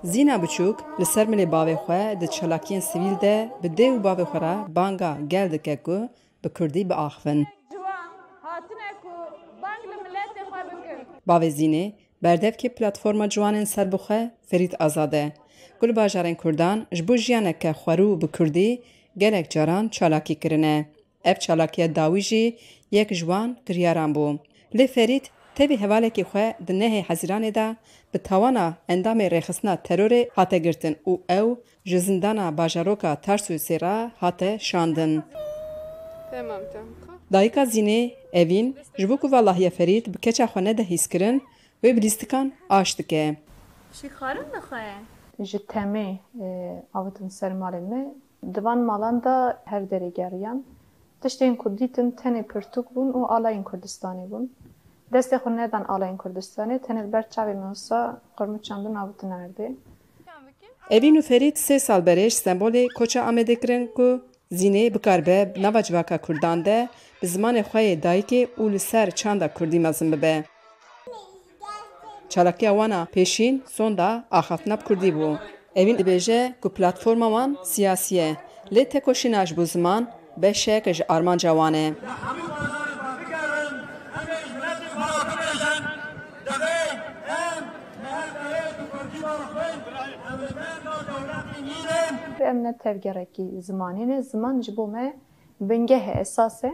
Zîna biçûk li ser milê bavê xwe di çalakiyên sivîl de bi dê û bavê xwe re banga gel dike ku bi kurdî biaxivin. Bavê Zînê berdevkê Platforma Ciwanên Serbixwe Ferît Azad e ku li bajarên kurdan ji bo jiyaneke xwerû bi kurdî gelek caran çalakî kirine. Ev çalakiya dawî jî yek ji wan kiryaran bû. Lê Ferît tevî hevalekî xwe di nehê Hezîranê de bi tawana endamê rêxistina terorê hate girtin û ew ji zindana bajaroka Tarsûsê re hate şandin. Dayika Zînê, Evîn, ji bo ku valahiya Ferît bi keça xwe nede hîskirin, wê bi lîstikan aş dike. Ji temê avitin ser malên me Di van malan de her derê geriyan. Tiştên ku dîtin tenê pirtûk bûn û alayên Kurdistanê bûn. Destê xwe nedan alayên Kurdistanê, tenê li ber çavê me wisa qirmiçan din avitin erdê. Evîn û Ferîd sê sal berê ji Stenbolê koça Amedê kirin ku zînê bikaribe bi nava civaka Kurdan de bi zimanê xwe yê dayikê û li ser çanda Kurdî mezin bibe. Çalakiya wan a pêşîn sonda axaftina bi kurdî bû. Evîn dibêje ku platforma wan siyasî ye, lê tekoşîna ji bo ziman beşek ji armanca wan e. Em ne tevgerekî zimanê ne, ziman ji bo me bingehê esas e.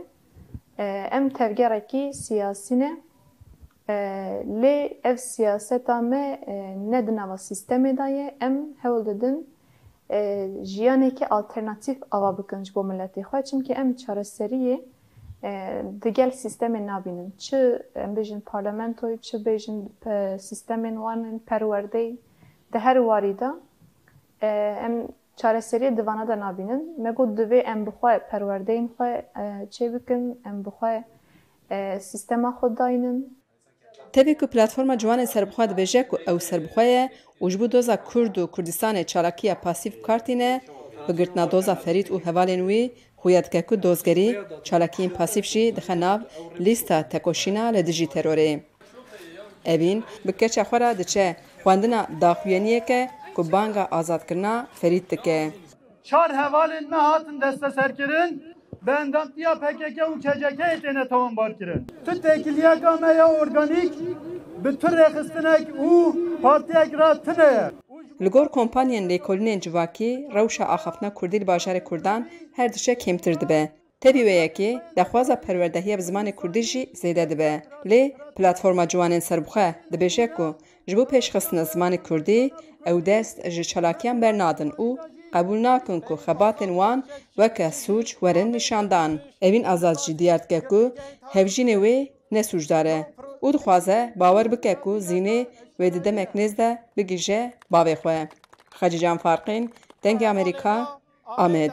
Em tevgerekî siyasî ne, Lê ev siyaseta me ne di nava sîstemê de ye, em hewl didin jiyanekî alternatîf ava bikin ji bo miletê xwe, çimkî em çareseriyê di gel sîstemê nabînin. Çi em bêjin parlamentoyê, çi bêjin sîstemên wan ên perwerdeyê, di her warî de em Çareseriyê di vana de nabînin. Me got divê em bi xwe perwerdeyên xwe çêbikin, em bi xwe sîstema xwe dayînin. Tevî ku Platforma Ciwanên Serbixwe dibêje ku ew serbixwe ye û ji bo doza Kurd û Kurdistanê çalakiya pasîv kar tîne, bi girtina doza Ferît û hevalên wî Xuya dike ku dozgerî çalakiyên pasîf jî dixe nav lîsta tekoşîna li dijî terorê. Evîn bi keça xwe re diçe xwendina daxuyaniyeke ku banga azadkirina Ferît dike. Çar hevalên me hatin desteserkirin, bi endamtiya pkk û KCK'ê têne tewambarkirin. Tu têkiliyeka me ya organîk bi tu rêxistinek û partiyek re tune ye. Li gor kompanyên lêkolinên civakî rewşa axaftina kurdî li bajarê kurdan her diçe kêmtir dibe. Tevî wê yekê daxwaza perwerdehiya bi zimanê kurdî jî zêde dibe. Lê Platforma Ciwanên Serbixwe dibêje ku ji bo pêşxistina zimanê kurdî ew dest ji çalakiyan bernadin û qebûl nakin ku xebatên wan weke sûc werin nîşandan. Evîn Azad jî diyar dike ku hevjînê wê Ne sûcdar e û dixwaze bawer bike ku Zînê wê di demek nêz de bigihje bavê xwe. Xecî Can Farqîn, Dengê Amerîka, Amed.